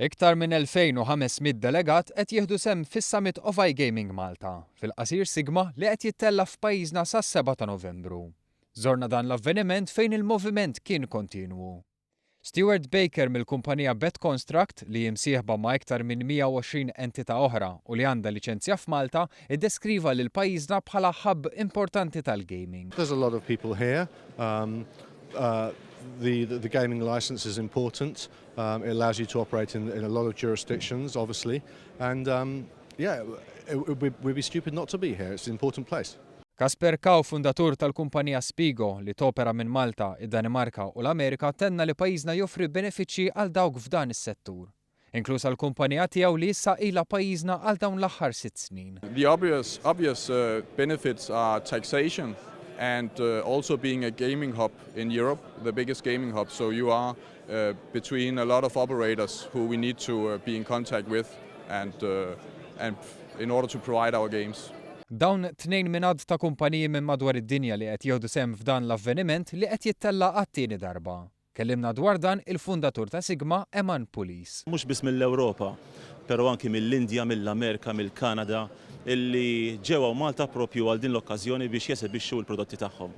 Iktar minn 2,500 delegat qed jieħdu sehem fis-Summit of iGaming Malta, fil-qasir sigma, li qed jittella' f'pajjiżna sas-7 ta' Novembru. Żorna dan l-avveniment fejn il-moviment kien kontinwu. Stewart Baker mill-kumpanija BetConstruct, li hi msieħba ma' iktar minn 120 entità oħra u li għandha liċenzja f'Malta, iddeskriva lil pajjiżna bħala hub importanti tal-gaming. There's a lot of people here. Um, uh, the, the, the gaming license is important. Um, it allows you to operate in, in a lot of jurisdictions, obviously. And um, yeah, it, it, we'd, we'd be stupid not to be here. It's an important place. Kasper Kaw, fundatur tal-kumpanija Spigo li topera minn Malta, id-Danimarka u l-Amerika, tenna li pajjiżna joffri benefiċċji għal dawk f'dan is-settur. Inkluż għall-kumpanija tiegħu li issa ilha pajjiżna għal dawn l-aħħar sitt snin. The obvious obvious benefits are taxation and also being a gaming hub in Europe, the biggest gaming hub, so you are between a lot of operators who we need to be in contact with and and in order to provide our games. Dawn tnejn minn għadd ta' kumpaniji minn madwar id-dinja li qed jieħdu sehem f'dan l-avveniment li qed jittella' għat-tieni darba. Kellimna dwar dan il-fundatur ta' Sigma, Eman Pulis. Mhux biss mill-Ewropa, pero anki mill-Indja, mill-Amerika, mill-Kanada, illi ġew hawn Malta propju għal din l-okkażjoni biex jesebixxu l-prodotti tagħhom.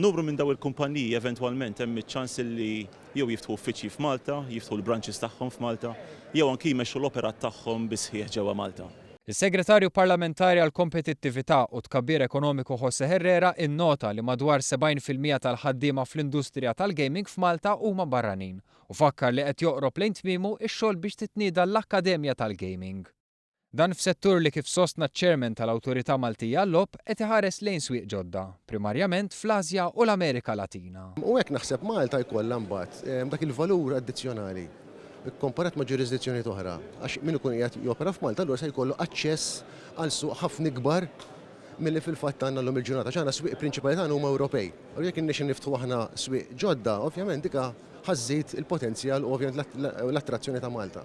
Numru minn daw il-kumpanniji eventwalment hemm iċ-ċans illi jew jiftħu uffiċċji f'Malta, jiftħu l-branches tagħhom f'Malta, jew anki jmexxu l-operat tagħhom bis-sħiħ ġewwa Malta. Is-Segretarju Parlamentari għall-Kompetittività u t-Tkabbir Ekonomiku José Herrera innota li madwar 70 fil-mija tal-ħaddiema fl-industrija tal-gaming f'Malta huma barranin u fakkar li qed joqrob lejn tmiemu x-xogħol biex titnieda l-Akkademja tal-Gaming. Dan f'settur li kif sostna ċ-Chairman tal-Awtorità Maltija għal-Logħob qed iħares lejn swieq ġodda, primarjament fl-Ażja u l-Amerika Latina. U hekk naħseb Malta jkollha mbagħad dak il-valur addizzjonali. kkomparat ma' ġurisdizzjonijiet oħra, għax min ikun qiegħed jopera f'Malta allura se jkollu aċċess għal suq ħafna ikbar milli fil-fatt għandna llum il-ġurnata, għax aħna s-swieq prinċipali tagħna huma Ewropej. Allura jekk irnexxilna niftħu aħna swieq ġodda, ovvjament dik ħa żżid il-potenzjal u ovvjament l-attrazzjoni ta' Malta.